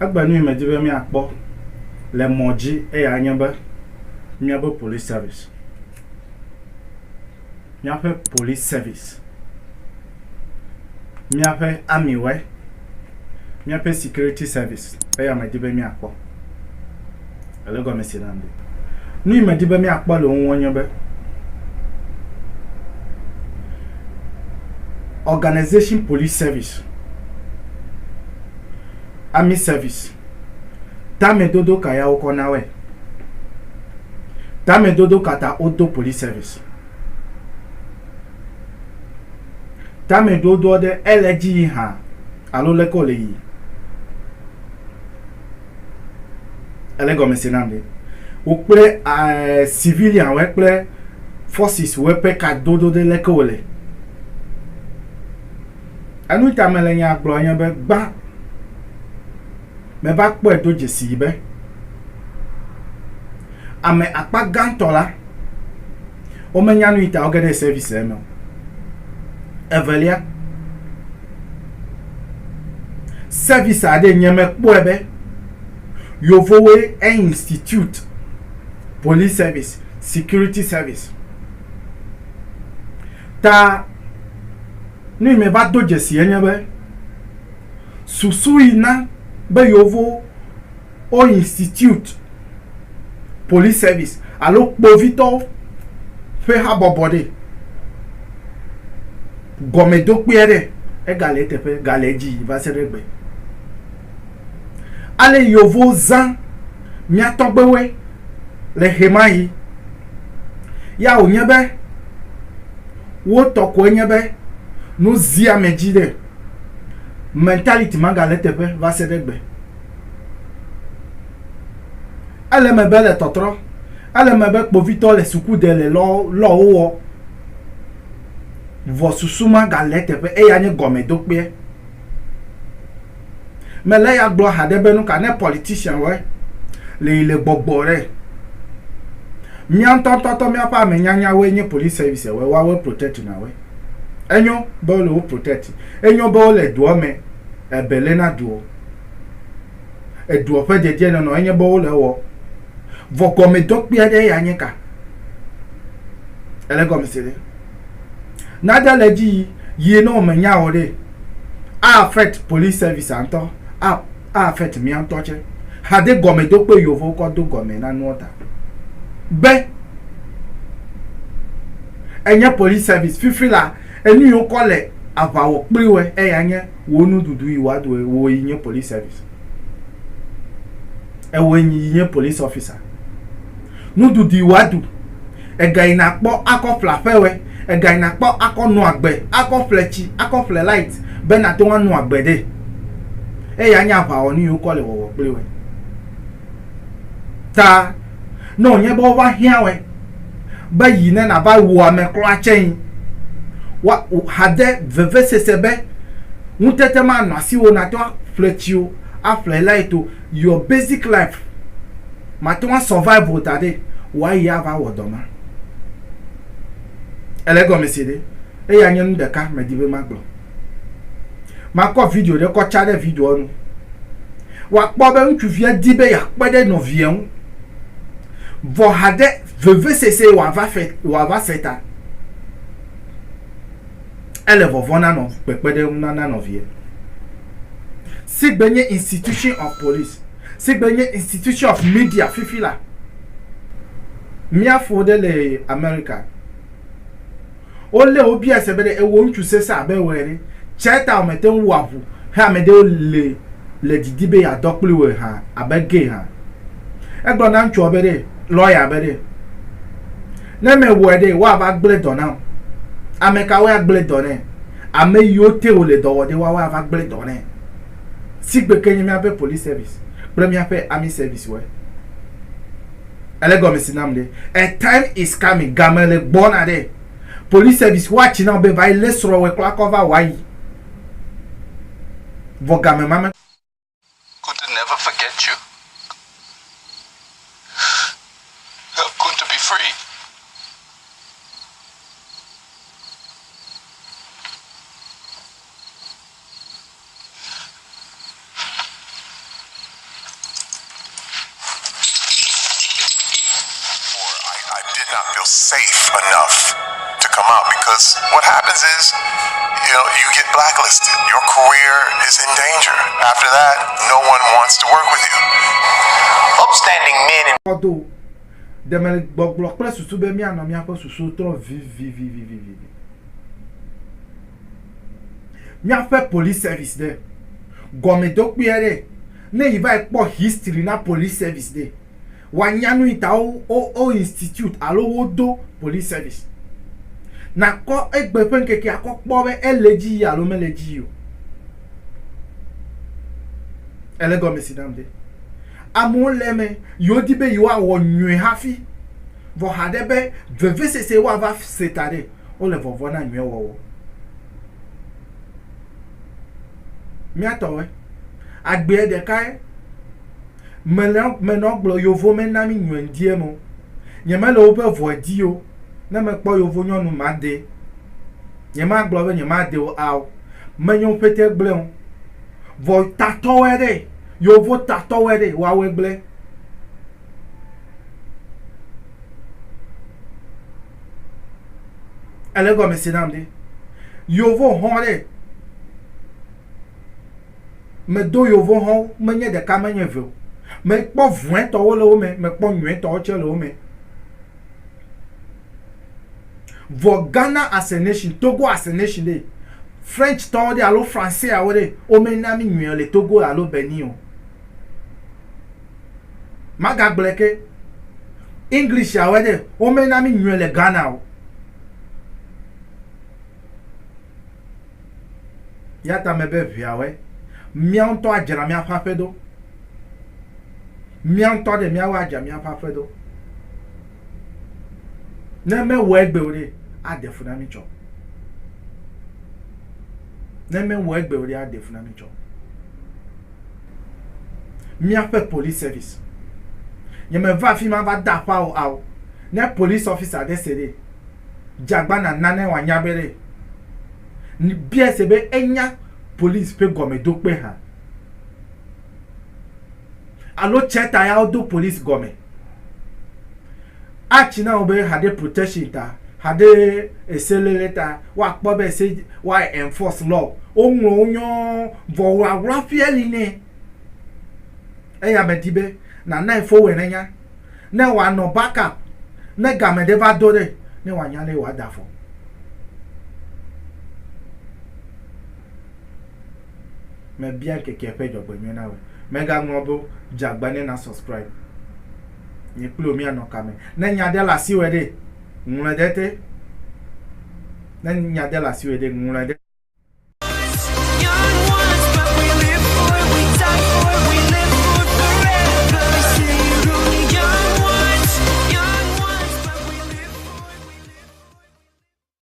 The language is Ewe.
Egbe nyui medi be míakpɔ le mɔ dzi eyae nye be míabe police service, míaƒe police service, míaƒe army we, míaƒe security service eya medi be míakpɔ. Èlé gɔme se nam ɖe. Nu yi medi be míakpɔ le wo ŋu nye be Organization Police Service, Army Service, tamedodo ka ya wokɔ na wɔe? Tamedodo ka ta wodo Police Service? Tamedodoɔ ɖe ele dzi yi hã alo leke wòle yi? ele gɔme se nam ɖe wo kple eh, civilian wɔ kple forces wɔ ƒe kadodo ɖe leke wole enu ta mele nya gblɔ nye be gbã meva kpɔe do dzesi yi be ame akpa gãtɔ la Womenya nu yi ta woge ɖe service me o. Evelia, service aɖe nye mekpɔe be yevowoe e institute police service, security service. Ta nu yi meva do dzesi enye be susu yi na be yevowo wo institute police service alo kpovitɔwo ƒe habɔbɔ ɖe. Gɔmedokpui aɖe ega le eteƒe ga le edzi va se ɖe egbe. Ale yevu zã mía tɔgbewoe le ɣemaɣi. Ya wònye be wo tɔ koe nye be nu zia ame dzi ɖe. Mentality ma ga le eteƒe va se ɖe egbe. Ele me be le tɔtrɔ. Ele me be kpovitɔ le suku de le lɔ lɔ wowɔ. Vɔ susu ma ga le teƒe eya nye gɔme do kpeɛ. Me le ya gblɔ haɖe be nuka ne politician wɔe le yi le gbɔgbɔ ɖe. Mía ŋutɔ ŋutɔ tɔ mía ƒe ame nyanya woe nye police service wɔe woawoe protect na wɔe. Enyo be wole wo protect. Enyo be wole doɔ me ebe le na doɔ. Edua ƒe dedienɔnɔ enye be wole ewɔ. Vɔ gɔmedɔ kpui aɖee ya nye ka? Ele gɔmese ɖe. Nade le edzi yi ne wòmenya o ɖee, a-affect police service-a ŋutɔ, a-affect mía ŋutɔ tsɛ. Hade gɔmedokpɔe Yevowo kɔ do gɔme na nuɔ ta be enye police service fifila. Enu yi wokɔ le aʋa wɔ kpli woe, eya nye wò nuɖuɖu yi wòa ɖu, wò yi nye police service, ewò yi nye police officer. Nuɖuɖu yi wòa ɖu, ega yi nàkpɔ akɔ ƒle aƒe woe, ega yi nàkpɔ akɔ nɔ agbe, akɔ ƒle tsi, akɔ ƒle light be nàte ŋu anɔ agbe ɖe. Eya nye aʋawɔnu yi wokɔ le wɔwɔ kpli woe. Ta. Ne wònye be wova hiãwɔe be yi ne nàva wu ame kura tsɛ yi, wa, hade vevesese be ŋutete manɔ asiwò nàte ŋu aƒle tsi o, aƒle light o, your basic life, màte ŋu asurvive o taɖe wòayi ava wɔ dɔ ma. Ele egɔme se ɖe? Eya nye nu ɖeka medi be magblɔ. Makɔ video ɖe kɔ tsa ɖe videoa nu. Wòakpɔ be ŋutsuvia di be yeakpe ɖe nɔvia ŋu. Vɔ haɖe vevesese wòava fe wòava fe ta. Ele vɔvɔ̃ na nɔ kpekpeɖeŋu na na nɔvia. Sigbe nye institution of police, sigbe nye institution of media fifi la, mía fo ɖe le Amerika. Wolé wo biae se be ɖe ewɔ ŋutsu sesẽ abe wò ene. Tsia ta wòme te ŋu wɔa ŋu he ame ɖewo le le didi be yeadɔ kpli wòe hã abe gay hã. Egblɔ na ŋutsua be ɖe lɔya be ɖe ne mewɔe ɖe woava gblẽ dɔ nam. Ame kawoe agblẽ dɔ nɛ? Ame yiwo te wòle dɔ wɔ ɖe woawoe ava gblẽ dɔ nɛ. Sigbe ke nye míaƒe police service kple míaƒe army service woe. Ele gɔme si nam ɖe. A time is coming, game le gbɔna ɖe. Police service wa tsi na be va yi lé srɔ̃wɔe kura kɔ va wa yi. Vɔ game ma me. Could never forget you. Help Kun to be free. Kpɔdo, demegbɔgblɔ kple susu be míanɔ míaƒe susuwo trɔ vivivivivi. Míaƒe police service ɖe, gɔme do kpui aɖe. Ne yi va yi kpɔ history na police service ɖe, wa nya nu yi ta wo wo wo institute alo wo do police service. Na kɔ egbe ƒe ŋkeke a kɔ kpɔ be ele edzi yia alo mele edzi yio. Ele gɔme si nam ɖe. Amewo le eme yi wo di be yi woa wɔ nyuie hafi. Vɔ haɖe be vevesese woa va se ta ɖe. wole vɔvɔ̃ na nyui wɔwɔ. Mía tɔwoe. Agbeɛ ɖekae mele menɔ gblɔ yovo mena mí nyuie ŋdie me o. Nyemele woƒe vɔe dii o. Ne mekpɔ yovo nyɔnu madee. Nyemagblɔ be nyemadee o ao. Menyo ƒete gblɔe o. Vɔ tatɔwoe ɖe. Yovo tatɔwoe ɖe woawɔe gblɔe. Ele gɔme se nam ɖe. Yovo hɔ̃ ɖe. Medo yovo hɔ̃wo, menye ɖeka, menye eve o. Mekpɔ vɔ̃etɔwo le wo me, mekpɔ nyuietɔwo tsɛ le wo me. Vɔ Ghana as a nation, Togo as a nation ɖe, Frenctɔwo ɖe alo Français-awo ɖe, womena mí nyuiɔ le Togo alo Benin o. Magagblɔe ke. English ya wɔe ɖe wome na mi nyuie le Ghana o. Ya ta me be ʋea wɔe. Mía ŋutɔ adzra mía ƒe aƒe ɖo. Mía ŋutɔ ɖe mía wɔ adzra mía ƒe aƒe ɖo. Ne me wɔ egbe o ɖe, ade fu na mi tsɔ. Ne me wɔ egbe o ɖe, ade fu na mi tsɔ. Míaƒe police service. Nye me va afima va da aƒa o ao. Ne police officer aɖe se ɖe, dze agbana nane wa nya be ɖe, biae se be enya police ƒe gɔme do kpe hã. Alo tsɛ ta ya wo do police gɔme. Atsi na wo be haɖe protection ta, haɖe eseléle ta, woakpɔ be ese wa enforce law. Woŋlɔ wo nyɔɔ vɔ ŋaŋla ƒea li nɛ. Eya medi be nànae fowɛnenya. Ne wòanɔ back up, ne game ɖe va do ɖe, ne wòanya lé wòada afɔ. Mebia ŋkeke ƒe dzɔgbenyuie na wòe. Megaŋlɔ be dze agba ne na subscribe. Nye kple wò míanɔ ka me? Ne nya ɖe le asiwò ɖe, ŋlɔe ɖe te. Ne nya ɖe le asiwò ɖe, ŋlɔe ɖe.